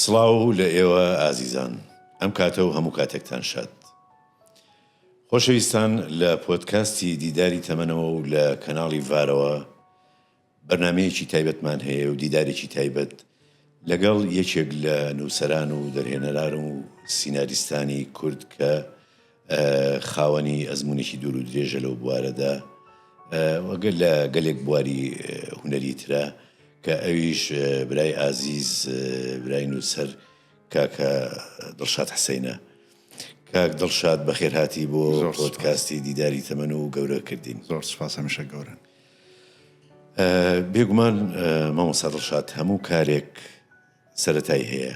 سڵاو لە ئێوە ئازیزان ئەم کاتە و هەموو کاتێکتان شاد خۆشەویستان لە پۆتکاستی دیداری تەمەنەوە و لە کەناڵی ڤارەوە بەرنمەیەکی تایبەتمان هەیە و دیدارێکی تایبەت لەگەڵ یەکێک لە نووسران و دەرهێنەران و سیناریستانی کورد کە خاوەنی ئەزمونێکی دوور و درێژە لەو بوارەدا وەگەر لە گەلێک بواری هوەری ترە کە ئەویش برای ئازیز برای نووسەر کاکە دڵشاد حسینە کاک دڵشاد بەخێرهاتی بۆ زۆرکاستی دیداری تەمەن و گەورەکردین زۆر سپاس هەمیشە گەورن بێگومان مامۆسا دڵشاد هەموو کارێک سەتای هەیە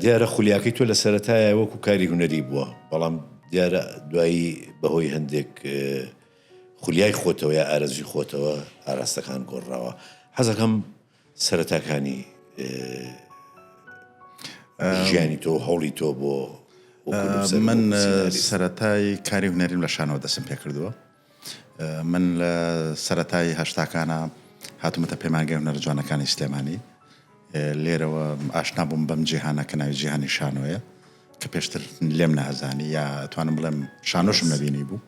دیارە خولیاکەی تۆ لە سەرەتایە وەکو کاری هونەری بووە بەڵام دیارە دوایی بەهۆی هەندێک خولیای خۆتەوە یا ئارەزوی خۆتەوە ئاراستەکان گۆڕراوە حەزەکەم سەرەتاکانی ژیانی تۆ هەوڵی تۆ بۆ من سەتای کاری هونەریم لە شانەوە دەسم پێ کردووە من لە سەرەتای هەشتاکانا هاتومەتە پەیمانگەی هونەرە جوانەکانی سلێمانی لێرەوە ئاشنا بووم بەم جیهانە کە ناوی جیهانی شانۆیە کە پێشتر لێم نەئەزانی یا توانم بڵێم شانۆشم نەبینی بوو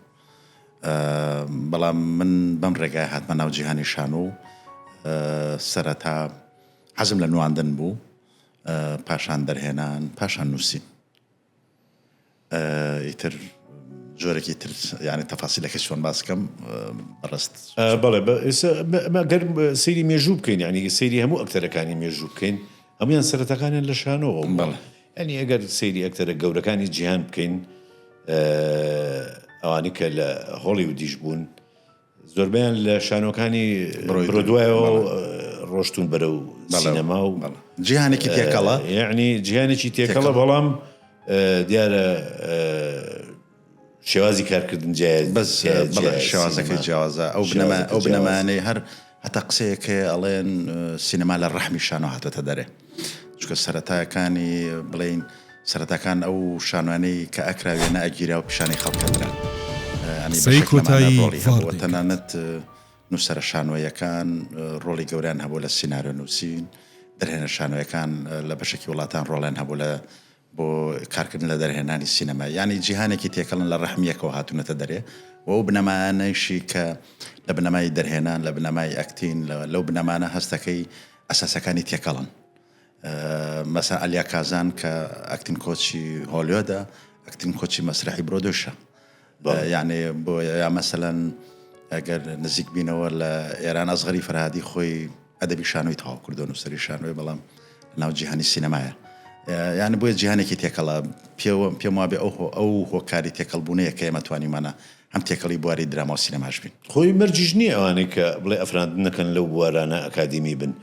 بەڵام من بەم ڕێگای هاتمە ناو جیهانی شانۆ و سەرەتا حەزم لە نواندن بوو پاشان دەرهێنان پاشان نووسین ئیتر جۆرەکی تر یعنی تەفاسیلەکە چۆن باس بکەم ڕست بەڵێ گەر سری مێژوو بکەین ینی سری هەموو ئەکتەرەکانی مێژوو بکەین هەمویان سەرەتەکانیان لە شانەوە بەڵێ ئەنی ئەگەر سری ئەکتەرە گەورەکانی جیهان بکەین ئەوانی کە لە هۆڵی و دیش بوون زۆربەیان لە شانۆکانی برۆدوایەوە ڕۆشتون بەرەو سینەما و جیهانێکی تێکەڵە یعنی جیهانێکی تێکەڵە بەڵام دیارە شێوازی کارکردن جیاز بەس شێوازەکە جیاوازە ئەو بنەما ئەو بنەمانەی هەر هەتا قسەیەکێ ئەڵێن سینەما لە ڕەحمی شانۆ هاتۆتە دەرێ چونکە سەرەتاکانی بڵێین سەرەتاکان ئەو شانوانەی کە ئەکرا وێنە ئەگیرا و پیشانی خەڵکەدرا قسەی کۆتایی هەبووە تەنانەت نووسرە شانۆیەکان ڕۆڵی گەوریان هەبوو لە سینناارە نووسین دەرهێنە شانۆیەکان لە بەشێکی وڵاتان ڕۆڵیان هەبوو لە بۆ کارکردن لە دەرهێنانی سینەما یانی جیهانێکی تێکەڵن لە ڕەحمی یەکەوە هاتوونەتە دەرێ و ئەو بنەمایانەیشی کە لە بنەمای دەرهێنان لە بنەمای ئەکتین لەو بنەمانە هەستەکەی ئەساسەکانی تێکەڵن مەسا ئەلیا کازان کە ئەکتین کۆچی هۆلیۆدە ئەکتین کۆچی مەسرەحی برۆدوشە یانی بۆ یا مەسەلەن ئەگەر نزیک بینەوە لە ئێران ئەزغەری فەرهادی خۆی ئەدەبی شانۆی تەواو کردو نووسری شانۆی بەڵام ناو جیهانی سینەمایە یان بۆیە جیهانێکی تێکەڵە پێوە پێم وابێ ئەو ئەو هۆکاری تێکەڵبوونەیە کە ئێمە توانیمانە هەم تێکەڵی بواری دراما و سینەماش بین خۆی مەرجیش نییە ئەوانەی کە بڵێ ئەفراندنەکەن لەو بوارانە ئەکادیمی بن.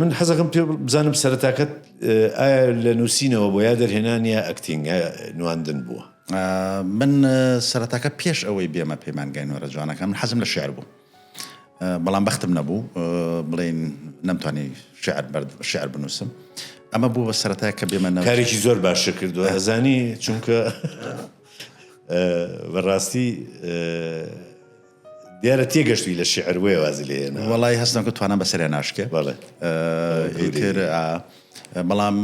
من حەزەکەم پێ بزانم سەرەتاکەت ئایا لە نووسینەوە بۆ یا دەرهێنان یا ئەکتینگ نواندن بووە من سەرەتاکە پێش ئەوەی بێمە پەیمانگای نۆرە جوانەکە من حەزم لە شعر بوو بەڵام بەختم نەبوو بڵین نەمتوانی شعر بەرد شعر بنووسم ئەمە بوو بە سەرەتای کە بێمە نەکارێکی زۆر باش کردو ئەزانی چونکە بەڕاستی دیارە تێگەشتوی لە شیعر بۆیە وازی لێ هێناوە. وەڵای هەست ناکەم توانام بەسەریا ناشکێ. بەڵێ. ئیتر ئا بەڵام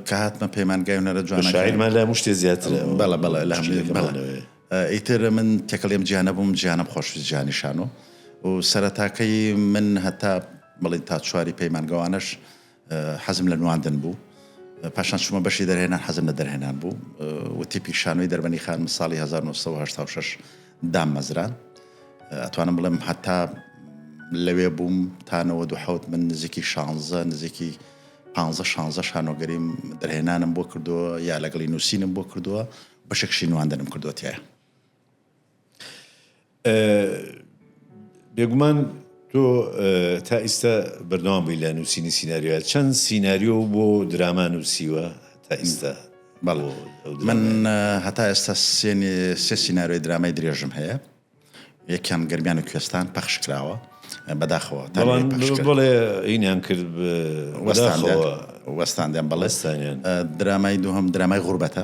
کە هاتمە پەیمانگای هونەرە جوانەکان. شاعیرمان لە هەموو شتێ زیاترە. بەڵێ بەڵێ لە هەموو شتێ بەڵێ. ئیتر من تێکەڵی ئەم جیهانە بووم، جیهانم خۆش ویست جیهانی شانۆ و سەرەتاکەی من هەتا بڵێین تا چواری پەیمانگەوانەش، حەزم لە نواندن بوو. پاشان چوومە بەشی دەرهێنان، حەزم لە دەرهێنان بوو و تیپی شانۆی دەربەنی خانم ساڵی هەزار و نۆ سەد و هەشتا و شەش داممەزراند. ئەتوانم بڵێم هەتا لەوێ بووم تا نەوەد و حەوت من نزیکی شانزە نزیکی پانزە شانزە شانۆگەریم دەرهێنانم بۆ کردووە یا لەگەڵی نووسینم بۆ کردووە بەشێکشی نواندنم کردووە تایە. بێگومان تۆ تا ئیستا بەردەوام بووی لە نووسینی سینناریوە چەند سینناریۆ بۆ دراما نووسیوە تا ئیستا بەڵ من هەتا ئێستا سێ سینناریۆی درامای درێژم هەیە یەکیان گەرمیان و کوێستان پەخش کراوە بەداخەوە بڵێ ئینیان کرد وەستان وەستاندیان بەڵێستانیان درامای دووهم درامای غوربەتە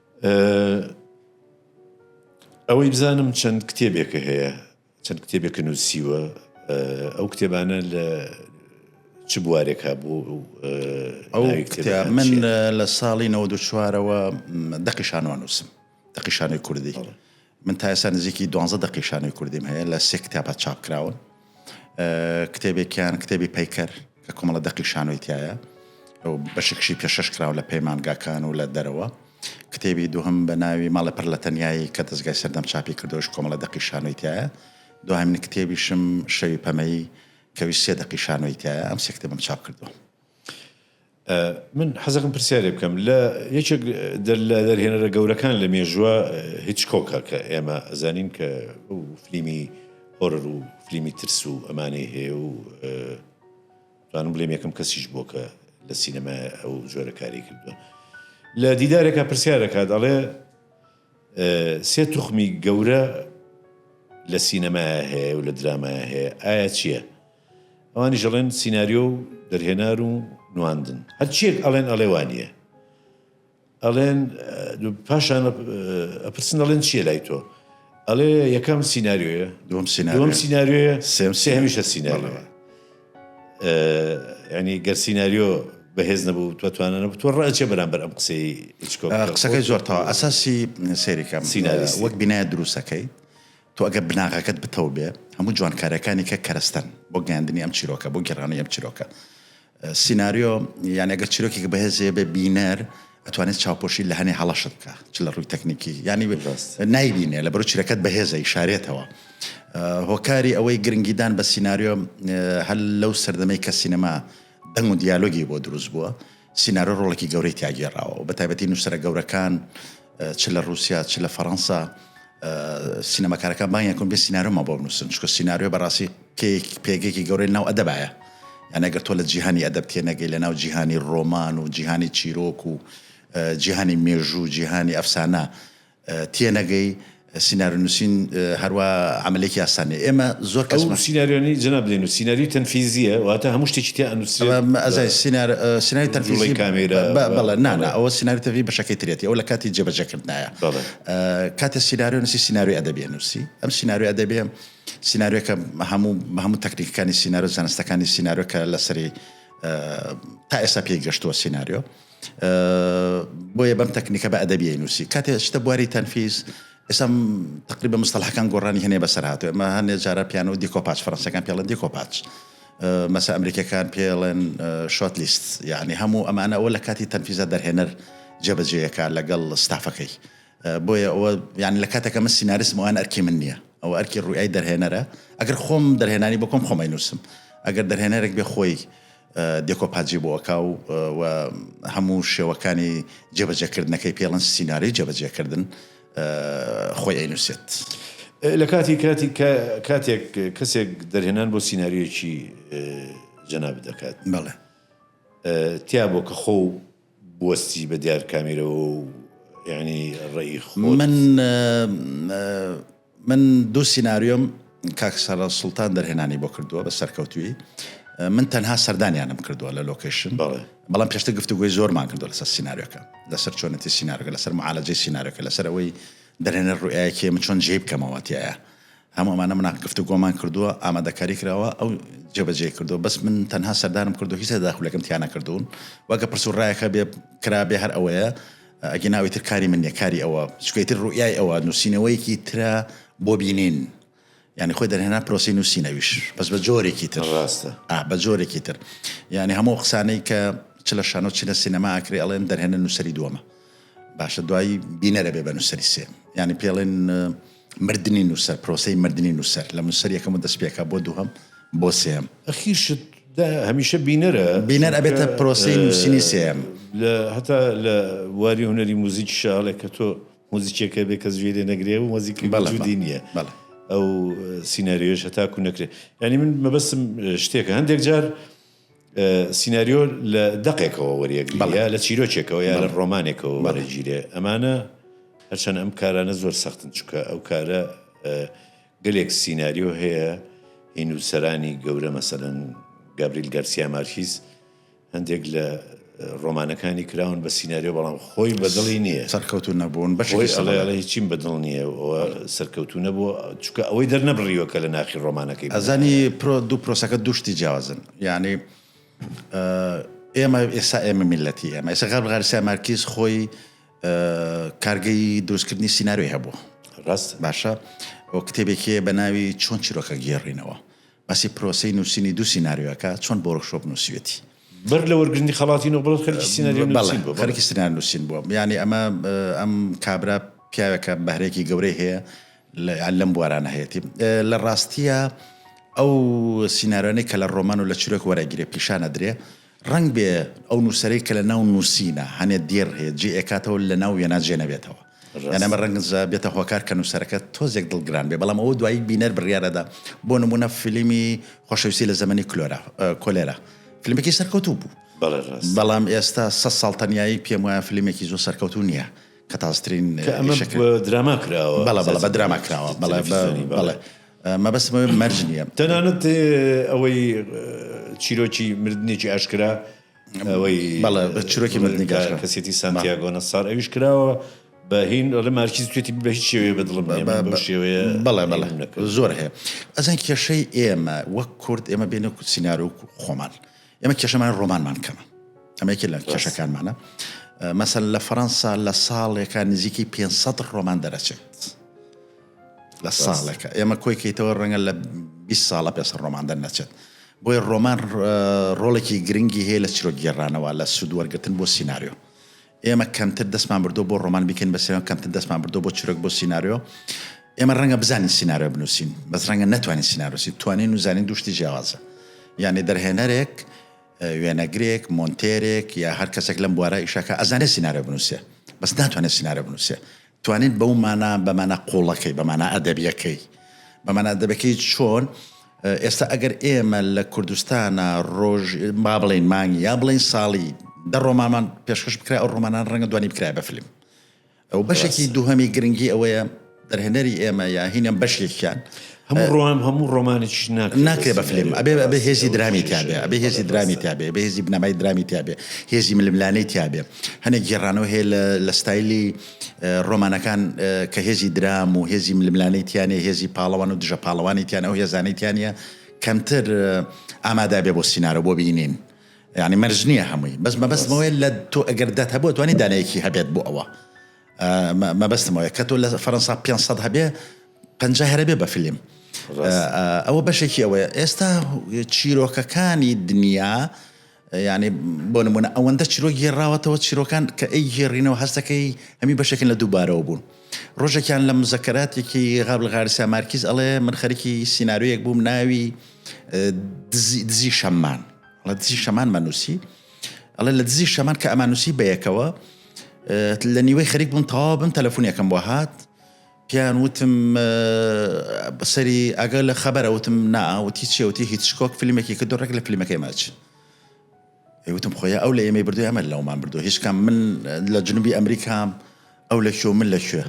ئەوەی بزانم چەند کتێبێکە هەیە چەند کتێبێکە نووسیوە ئەو کتێبانە لە چ بوارێک هەبوو ئەو کتێب من لە ساڵی 94ەوە دەقیشانوان نووسم دەقیشانەی کوردی من تا ئێستا نزیکی دوانزە دەقی شانۆی کوردیم هەیە لە سێ کتێبا چاپ کراون کتێبێکیان کتێبی پەیکەر کە کۆمەڵە دەقی شانۆی تایە ئەو بەشێکشی پێشەش کراوە لە پەیمانگاکان و لە دەرەوە کتێبی دوهم بە ناوی ماڵە پڕ لە تەنایی کە دەستگای سەردەم چاپی کردۆش کۆمەڵە دەقی شانۆی تایە دوهامین کتێبیشم شەوی پەمەیی کەوی سێ دەقی شانۆی تایە ئەم سێ کتێبم چاپ کردووە من حەزەکەم پرسیارێ بکەم لە یەکێک لە دەرهێنەرە گەورەکان لە مێژوە هیچکۆکە کە ئێمە ئەزانین کە ئەو فلیمی هۆرر و فلیمی ترس و ئەمانەی هەیە و دانم بلێم یەکەم کەسیش بۆ کە لە سینەما ئەو جۆرە کاری کردوە لە دیدارێکە پرسیارەکات ئەڵێ سێ توخمی گەورە لە سینەما هەیە و لە درامای هەیە ئایا چییە؟ ئەوانیش ئەڵێن سیناریۆ و دەرهێنان و نواندن هەرچیەک ئەڵێن ئەڵێ وانیە ئەڵێن پاشان ئەپرسن ئەڵێن چیە لای تۆ ئەڵێ یەکەم سینناریۆیە دوم سینناوم سینناریۆیە سێم سێ هەمیشە سینناریۆە ینی گەر سینناریۆ بەهێز نەبوو تۆ توانە نەبوو تۆ ڕچێ بەرامبەر ئەم قسەی قسەکەی زۆرتەوە ئەساسی سێریکەم سینناریس وەک بینایە دروستەکەی تۆ ئەگەر بناغەکەت بتەو بێ هەموو جوانکاریەکانی کە کەرەستەن بۆ گەیاندنی ئەم چیرۆکە بۆ گەڕانی ئەم چیرۆکە سینناریۆ یان ئەگەر چیرۆکێک بەهێزێ بێ بینەر ئەتوانێت چاوپۆشی لە هەنێ هەڵەشت بکە چ لە ڕووی تەکنیکی ینی نایبینێ لە بەرو چیرەکەت بەهێزە شارێتەوە هۆکاری ئەوەی گرنگیدان بە سینناریۆ هەل لەو سەردەمەی کە سینەما دەنگ و دیالۆگی بۆ دروست بووە سینارۆ ڕۆڵێکی گەورەی تیا گێڕاوە و بەتایبەتی نووسەرە گەورەکان چ لە ڕووسیا چ لە فەڕەنسا سینەماکارەکان بانیان کۆن بێ سینارۆمان بۆ بنووسن چکە سینارۆ بەڕاستی پێگەێکی گەورەی ناو ئەدەبایە یانەگەر تۆ لە جیهانی ئەدەب تێنەگەی لە ناو جیهانی ڕۆمان و جیهانی چیرۆک و جیهانی مێژوو جیهانی ئەفسانە تێنەگەی سینارو نوسین هەروا عەمەلێکی ئاسان نیە ئێمە زۆر کەس. ئەو سیناریۆانەی جەناب دەینوس سیناریۆی تەنفیزیە واتە هەموو شتێکی تیا ئەنوسرێت بە ئەوە ئەزای سینار سیناری تەنفیزی جوڵەی کامێرا بە بەڵێ نا نا ئەوە سیناری تەنفیزی بەشەکەی ترێتی ئەو لە کاتی جێبەجێ کردنایە بەڵێ کاتێ سیناریۆ نوسی سیناریۆی ئەدەبی ئەنوسی ئەم سیناریۆ ئەدەبیە سیناریۆکە هەموو هەموو تەکنیکەکانی سینارۆ زانستەکانی سیناریۆ کە لەسەری تا ئێستا پێی گەشتووە سیناریۆ. بۆیە بەم تەکنیکە بە ئەدەبیی نووسی کاتێ شتە بواری تەنفیز ئێستا تقریبە مستەلحەکان گۆڕانی هەنێ بەسەر هاتوێ ئەمە هەنێ جارە پیانە و دیکۆپاچ فەرەنسەکان پێڵەن دیکۆپاچ مەسە ئەمریکەکان پێڵێن شۆت لیست یعنی هەموو ئەمانە ئەوە لە کاتی تەنفیزە دەرهێنەر جێبەجێیەکە لەگەڵ ستافەکەی بۆیە ئەوە یعنی لە کاتەکە من سیناریسم ئەوان ئەرکی من نییە ئەو ئەرکی ڕویای دەرهێنەرە ئەگەر خۆم دەرهێنانی بکۆم خۆمای نووسم ئەگەر دەرهێنەرێک بێ خۆی دێکۆپاجی بۆ ئەکا و و هەموو شێوەکانی جێبەجێکردنەکەی پێڵن سیناریۆی جێبەجێکردن خۆی ئەینووسێت. لە کاتی کاتی کاتێک کەسێک دەرهێنان بۆ سیناریۆیەکی جەنابت دەکات بەڵێ تیا بۆ کە خۆ بوەستی بە دیار کامیرەوە و یانی ڕێی خۆت؟ من من دوو سیناریۆم کاک سەرە سوڵتان دەرهێنانی بۆ کردووە بە سەرکەوتوی من تەنها سەردانیانم کردووە لە لۆکیشن بەڵام پێشتە گفتوگوی زۆرمان کردو لەسەر سینناریۆکە لەسەر چۆنەتی سینناارگە لەسەر معالەجەی سینناارەکە لەسەر ئەوەی دەرێنەر ڕوئایەکێ من چۆن جێ بکەمەوە تایە هەموو ئەمانە مناق گفتوگۆمان کردووە ئامادەکاری کراوە ئەو جێبەجێ کردووە بەس من تەنها سەردانم کردو هیچ داخولەکەم تیانە کردوون وەگە پرس و ڕایەکە بێ کرا بێ هەر ئەوەیە ئەگە ناوی تر کاری من نیە کاری ئەوە چکەی تر ڕوئای ئەوە نووسینەوەیەکی ترە بۆ بینین ینی خۆی دەرهێنا پرۆسی نووسینەویش بەس بە جۆرێکی تر ڕاستە بە جۆرێکی تر یعنی هەموو قسانەی کە چ لە شانۆ چی لە سینەما ئاکرێ ئەڵێن دەرهێنە نووسری دووەمە باشە دوایی بینەرە بێ بە نووسری سێ ینی پێڵێن مردنی نووسەر، پرۆسەی مردنی نووسەر، لە نووسەر یەکەم و دەستپێکە بۆ دووهەم بۆ سێیەم. ئەخیر شت دە هەمیشە بینەرە. بینەر ئەبێتە پرۆسەی نووسینی سێیەم. لە هەتا لە بواری هونەری موزیکیشا هەڵێ کە تۆ موزیکێک هەبێ کەس گوێی لێ نەگرێ و موزیکێک وجودی نییە. بەڵێ بەڵێ. ئەو سیناریۆیەش هەتاکوو نەکرێ. یانی من مەبەستم شتێکە هەندێک جار. سیناریۆ لە دەقێکەوە وەریەگرێ، لە چیرۆکێکەوە یا لە ڕۆمانێکەوە وەرەگیرێ. ئەمانە هەرچەند ئەم کارانە زۆر سەختن چونکە ئەو کارە گەلێک سیناریۆ هەیە هی نووسەرانی گەورە مەسەن گابریل گەرسیا مارکیز هەندێک لە ڕۆمانەکانی کراون بە سیناریۆ بەڵام خۆی بە دڵی نییە. سەرکەوتوو نەبوون بەشێکی سەڵە. خۆی ئەڵێ ئەڵێ هیچیم بە دڵ نییە و سەرکەوتوو نەبووە چونکە ئەوەی دەرنەبڕیوە کە لە ناخی ڕۆمانەکەی بووە. ئەزانی پرۆ دوو پرۆسەکە دوو شتی جیاوازن یانی ئێمە ئێستا ئێمە میللەتی ئێمە ئێستا غەرب غارسیا مارکیز خۆی کارگەی دروستکردنی سیناریۆی هەبوو. ڕاستە. باشە ئەو کتێبێکی هەیە بە ناوی چۆن چیرۆکە گێڕینەوە باسی پرۆسەی نووسینی دوو سیناریۆ ئەکا چۆن بۆ ورکشۆپ نووسیوێتی؟ بەر لە وەرگرتنی خەڵاتی نۆبڵ خەریکی سیناریۆ نووسین بووە. بەڵێ خەریکی سیناریۆ نووسین بووە. یانی ئەمە ئەم کابرا پیاوێکە بەهرەیەکی گەورەی هەیە لەم بوارانە هەیەتی. لە ڕاستییا ئەو سیناریۆانەی کە لە ڕۆمان و لە چیرۆک وەرەگیرێ پیشان ئەدرێ ڕەنگ بێ ئەو نووسەرەی کە لە ناو نووسینە هەنێ دێڕ هەیە جێ ئەکاتەوە لە ناو وێنا جێ نەبێتەوە. یان ئەمە ڕەنگە بێتە هۆکار کە نووسەرەکە تۆزێک دڵگران بێ، بەڵام ئەوە دوایی بینەر بڕیار ئەدا، بۆ نموونە فیلمی خۆشەویستی لە زەمەنی کلۆرا، کۆلێرا، فیلمێکی سەرکەوتوو بوو، بەڵێ ڕاستە. بەڵام ئێستا سەد ساڵ تەنیایی پێم وایە فیلمێکی زۆر سەرکەوتوو نییە، کە تازەترین کە ئەمە ئیشەکە. بە دراما کراوە. بەڵێ بەڵێ بە دراما کراوە، بەڵێ بە تەلەفیزیۆنی بەڵێ. بەڵێ مەبەستم ئەوەیە مەرج نییە. تەنانەت ئەوەی چیرۆکی مردنێکی ئاشکرا، ئەوەی کەسێتی سانتیاگۆ نەسار ئەویش کراوە بە هین ئەڵێ مارکیز توێتی بە هیچ شێوەیە بە دڵم شێوەیە بەڵێ بەڵێ زۆر هەیە ئەزان کێشەی ئێمە وەک کورد ئێمە بێنە سینناروک خۆمان ئێمە کێشەمان ڕۆمانمان کەمە ئەمەیەکی لە کێشەکانمانە مەسەر لە فەەنسا لە ساڵێکان نزیکەی 500 ڕۆمان دەرەچێت لە ساڵێکە ئێمە کۆی کەیتەوە ڕەنگە لە 20 ساڵە پێ سەر ڕۆمان دەرنەچێت بۆی ڕۆمان ڕۆڵێکی گرنگی هەیە لە چرۆک گێڕانەوە لە سوود وەرگتن بۆ سینناریۆ ئێمە کەمتر دەستمان بردو بۆ ڕۆمان بیکەین بەسەرەوە کەمتر دەستمان بردو بۆ چرۆک بۆ سینناریۆ ئێمە ڕەنگە بزانین سینناریۆ بنووسین بەس ڕەنگە نتوانین سینناروسی توانین و زانین دوشتی جیاوازە یعنی دەرهێنەرێک وێنەگرێک مۆنتێرێک یا هەر کەسێک لەم بوارە ئیشەکە ئەزانێت سینناریۆ بنووسێ بەس ناتوانێت سینناریۆ بنووسێ توانیت بەو مانا بە مانا قوڵەکەی بە مانا ئەدەبیەکەی بە مانا دەبەکەی چۆن ئێستا ئەگەر ئێمە لە کوردستانە ڕۆژ با بڵین مانگی یا بڵین ساڵی دە ڕۆمانمان پێشکەش بکرای ئەو ڕۆمانان ڕەنگە دوانی بکرای بە فیلم ئەو بەشێکی دووهەمی گرنگی ئەوەیە دەرهێنەری ئێمە یا هینم بەشێکیان هەموو ڕۆمان هەموو ڕۆمانێکیش ناکرێ ناکرێ بە فلیم ئەبێ ئەبێ هێزی درامی تیا بێ ئەبێ هێزی درامی تیا بێ ئەبێ هێزی بنەمای درامی تیا بێ هێزی ململانێی تیا بێ هەنێک گێڕانەوە هەیە لە لە ستایلی ڕۆمانەکان کە هێزی درام و هێزی ململانێی تیا نیە هێزی پاڵەوان و دژە پاڵەوانی تیان ئەو هێزانەی تیا نیە کەمتر ئامادا بێ بۆ سینارۆ بۆ بینین یعنی مەرج نییە هەمووی بەس مەبەستمەوەی لە تۆ ئەگەر دەت هەبوو توانی دانەیەکی هەبێت بۆ ئەوە مەبەستم ئەوەیە کە تۆ لە فەرەنسا 500 هەبێ پەنجا هەرەبێ بە فیلم ئەوە بەشێکی ئەوەیە ئێستا چیرۆکەکانی دنیا یعنی بۆ نمونە ئەوەندە چیرۆک گێڕاوەتەوە چیرۆکان کە ئەی گێڕینەوە هەستەکەی هەمی بەشێکن لە دووبارەوە بوون ڕۆژێکیان لە مزەکەاتێکی غابل غارسیا مارکیز ئەڵێ من خەرکی سیننارویەک بووم ناوی دزی شەممان دزی شەمان مەنووسی ئەڵێ لە دزی شەمان کە ئەمانوسی بەیەکەوە لە نیوەی خەریک بوون تەوا بم تەلەفۆنیەکەم بۆ هات پیان وتم بەسەری ئەگەر لە خەبەرە وتم ناوتی چێوتی هیچ شکۆک فیلمێکی کە دۆڕێک لە فیلمەکەی ماچ وتم خۆی ئەو لە ئێمەی بردو ئەمە لەومان بردو هیچکام من لە جنوبی ئەمریکام ئەو لە شو من لە شوێ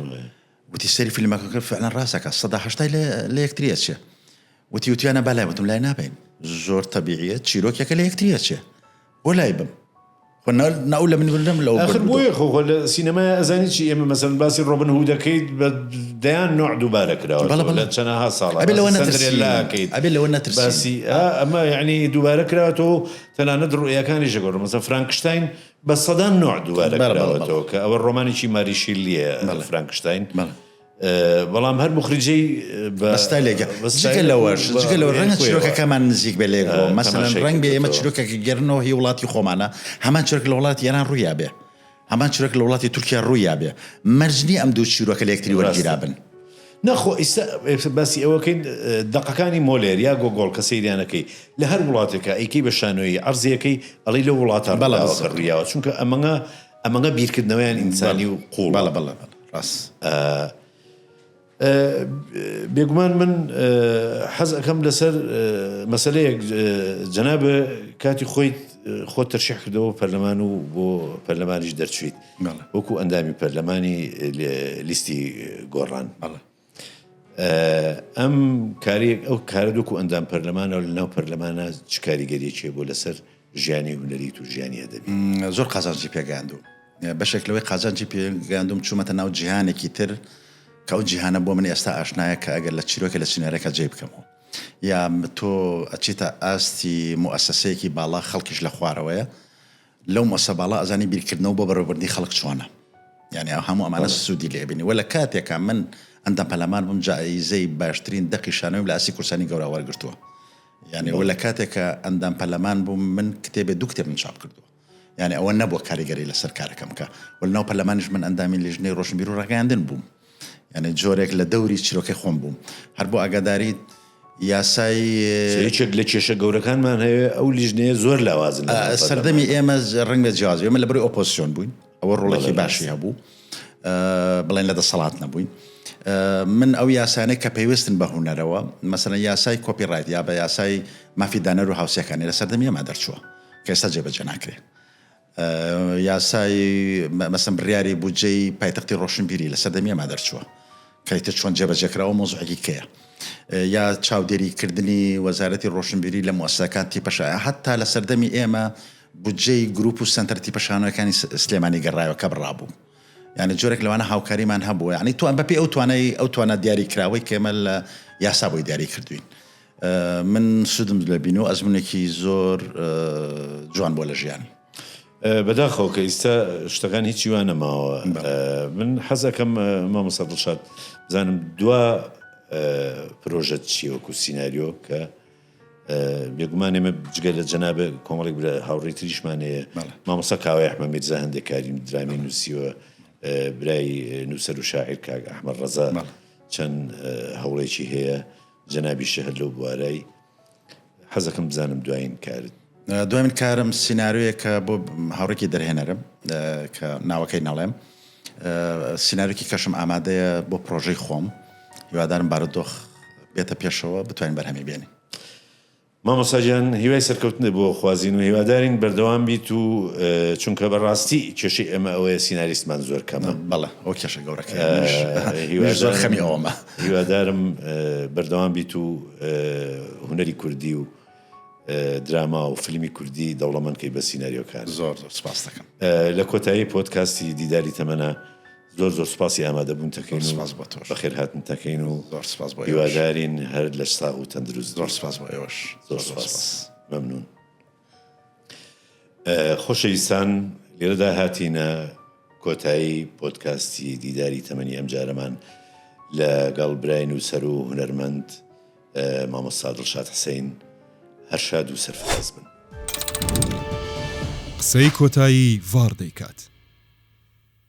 وتی سەری فیلمەکە فعلا ڕاستەکە سەدا هشتای لە یەکتریە چێ وتی وتیانە بەلای وتم لای نابین زۆر تەبیعە چیرۆکەکە لە یەکتریە چێ بۆ لای بم ناو لە من بردم لە آخر بۆیە خۆ لە سینەمای ئەزانی چی ئێمە مەسەن باسی ڕۆبن هو دەکەیت بە دەیان نوع دووبارە کراوە لە چەنەها ساڵ ئەبێ لەوە نەترسیلاکەیت ئەبێ لەوە نەترسی ئەمە یعنی دووبارە کراوەتەوە تەنانەت ڕوئیەکانی ژگۆڕ مەسە فرانکشتین بە سەدان نوع دووبارە کراوەتەوە کە ئەوە ڕۆمانێکی ماریشیلیە فرانکشتین. بەڵام هەر موخریجەی بە ستایلێکە جگە لەوەش جگە لەوە ڕەنگە چیرۆکەکەمان نزیک بێ لێرەوە آه، مەسەلەن ڕەنگ بێ ئێمە چیرۆکێکی گەرنەوە هی وڵاتی خۆمانە هەمان چرک لە وڵاتی ئێران ڕوویا بێ هەمان چرک لە وڵاتی تورکیا ڕوویا بێ مەرجنی ئەم دوو چیرۆکە لە یەکتری وەرگیرا بن نەخۆ ئیستا باسی ئەوەکەین دقەکانی مۆلێر یا گۆگۆڵ کە سەیریانەکەی لە هەر وڵاتێکە ئەیکەی بە شانۆیی عرضەکەی ئەڵی لە وڵاتان بەڵاوەکە ڕویاوە چونکە ئەمەە ئەمەگە بیرکردنەوەیان ئینسانی و قوڵە بێگومان من حەز ئەەکەم لەسەر مەسلەیەک جەنا بە کاتی خۆی خۆ تەرشح کردەوە پەرلەمان و بۆ پەرلەمانیش دەرچیت وەکو ئەندامی پەرلەمانی لیستی گۆڕان ئەم کارەیەک ئەو کارە دۆکو ئەندام پەرلەمانەوە لە ناو پەرلەمانە چ کاریگەریەکێ بۆ لەسەر ژیانی هونەری تو ژیانی ئەدەبی زۆر قازانجی پێگەیاندو بەشێک لەوەی قازانجی پێگەیاندوم چوومەتە ناو جیهانێکی تر کە ئەو جیهانە بۆ من ئێستا ئاشنایە کە ئەگەر لە چیرۆکە لە سینارەکە جێ بکەمەوە یا تۆ ئەچیتە ئاستی موسەسەیەکی باڵا خەڵکیش لە خوارەوەیە لەو مەسە باڵا ئەزانی بیرکردنەوە بۆ بەڕێوەبردنی خەڵک چۆنە یانی ئەو هەموو ئەمانە سوودی لێ بینی وە لە کاتێکا من ئەندام پەلامار بووم جائیزەی باشترین دەقی شانۆیم لە ئاستی کورسانی گەورە وەرگرتووە یانی وە لە کاتێکا ئەندام پەلەمان بووم من کتێبێ دوو کتێبم چاپ کردووە یانی ئەوە نەبووە کاریگەری لەسەر کارەکەم بکا وە لەناو پەرلەمانیش من ئەندامی لیژنەی ڕۆشنبیر و ڕاگەیاندن بووم یانێ جۆرێک لە دەوری چیرۆکەی خۆم بووم هەر بۆ ئاگاداریت یاسای یەکێک لە کێشە گەورەکانمان هەیە ئەو لیژنەیە زۆر لاوازن سەردەمی ئێمە ڕنگە جیاز ئێمە لە بری ئۆپۆسیۆن بووین ئەوە ڕۆڵێکی باشی هەبوو بڵێن لە دەسەڵات نەبووین من ئەو یاسانە کە پێویستن بە هوەرەوە مەسەن یاسای کۆپی ڕایت یا بە یاسای مافیدانەر و هاوسەکانی لە سەردەمی ئێمە دەرچووە کەستا جێبەجە ناکرێت یاسای مەسەن بڕیاری بودجەی پایتەختی ڕۆشنبیری لە سەردەمی ئێمە دەرچووە کە ئیتر چۆن جێبەجێ کراوە مەوزوعێکی کەیە یا چاودێری کردنی وەزارەتی ڕۆشنبیری لە موسەکان تیپەشایە هەتا لە سەردەمی ئێمە بودجەی گروپ و سنتەر تیپەشانەکانی سلێمانی گەڕایەوە کە بڕابوو یعنی جۆرێک لەوانە هاوکاریمان هەبوو یعنی توان بەپی ئەو توانای ئەو توانا دیاری کراوەی کێمە لە یاسا بۆی دیاری کردوین من سودم لە بینو ئەزمونێکی زۆر جوان بوە لە ژیانی. بەداخەوە کە ئیستا شتەکان هیچی وا نەماوە من حەزەکەم مامۆستا دڵشاد بزانم دوا پرۆژەت چیە وەکو سیناریۆ کە بێگومان ئێمە جگە لە جەنابە کۆمەڵێک برا هاوڕێی تریشمان هەیە مامۆستا کاوای ئەحمە میرزا هەندێک کاریم درامی نووسیوە برای نووسەر و شاعیر کاک ئەحمە ڕەزا چەند هەوڵێکی هەیە جەنابی شێ هەر لەو بوارەی حەزەکەم بزانم دوایین کارت. دوایین کارم سیناریۆیەکە بۆ هاوڕێکی دەرهێنەرم کە ناوەکەی نەڵێم سیناریۆکی کەشم ئامادەیە بۆ پرۆژەی خۆم هیوادارم بارودۆخ بێتە پێشەوە بتوانین بەرهەمی بێنین. مامۆستا گیان هیوای سەرکەوتنت بۆ خوازین و هیوادارین بەردەوام بیت و چونکە بەڕاستی کێشەی ئێمە ئەوەیە سیناریستمان زۆر کەمە بەڵێ ئەو کێشە گەورەکەیە منیش زۆر خەمی ئەوەمە هیوادارم بەردەوام بیت و هونەری کوردی و دراما و فلیمی کوردی دەوڵەمەند کەی بە سیناریۆکان زۆر زۆر سپاس دەکەم لە کۆتایی پۆدکاستی دیداری تەمەنا زۆر زۆر سوپاسی ئامادەبوونتەکەین و بەخێرهاتنتەکەین و هیوادارین هەر لەش ساغ و تەندروست بیت. زۆر سوپاس بۆ ئێوەش. زۆر سوپاس. مەمنوون. خۆشەویستان لێرەدا هاتینە کۆتایی پۆدکاستی دیداری تەمەنی ئەمجارەمان لە گەڵ برای نووسەر و هونەرمەند مامۆستا دڵشاد حسین هەر شاد و سەرفراز بن. قسەی کۆتایی ڤاڕ دەیکات.